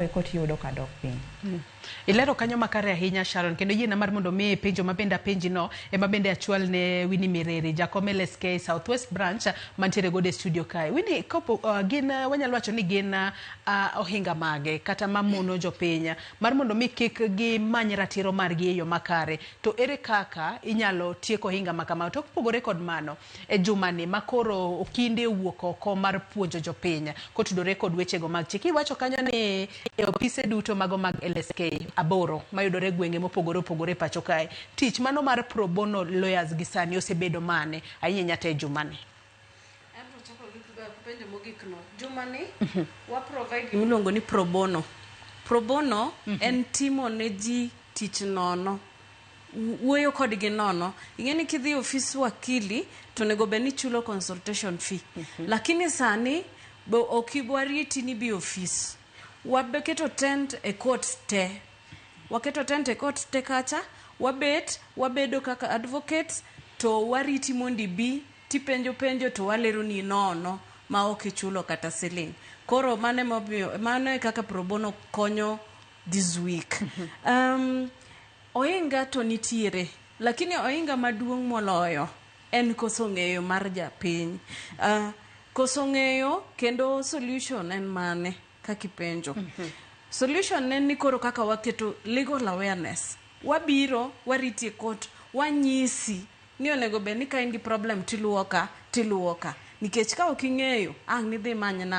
kare koti yudo ka dok piny. Mm. Ilero kanyo makare ahinya Sharon kendo yiena mar mondo mi penjo ma bende apenji no ema bende achwal ne Winnie Mireri jakom LSK Southwest branch mantiere gode studio kae. Winnie kopo uh, gin uh, wanyalo wacho ni gin uh, uh, ohinga mage kata mamono jopiny mar mondo mi kik gimany ratiro margi e yo makare to ere kaka inyalo tieko ohinga ma kama to kopogore kod mano E jumani ma koro Okinde owuok oko mar puonjo jopiny kotudore kod wechego mag chik, iwacho kanyo ni e opise duto mago mag LSK aboro mayudore e gwenge mopogore opogore e pacho kae, tich mano mar pro bono lawyers gi sani osebedo mane ahinya to e jumani? Abiro chako gi penjo mogik no. Jumani wa provide gima iluongo ni pro bono. Pro bono en timo ne ji tich nono. wuoyo kodgi nono. Ing'e ni kidhi ofis wakili to onego bed ni ichulo consultation fee. Lakini sani be ok ibi wariti ni ibi e ofis. Waketo tent e court te. Waketo tent e court te kacha, wabet, wabedo kaka advocates to wariti mondo ibi tipenjo penjo to waleroni nono ma ok ichulo kata siling'. Koro mano e momiyo, mano e kaka pro bono konyo. this week um, ohinga to nitiere lakini ohinga maduong' moloyo en koso ng'eyo mar japiny uh, koso ng'eyo kendo solution en mane kakipenjo solution ne ni koro kaka waketo legal awareness wabiro wariti e court wanyisi ni onego bed ni ka in gi problem tiluwo ka tiluwo ka nikech ka ok ing'eyo ang' nidhi imany na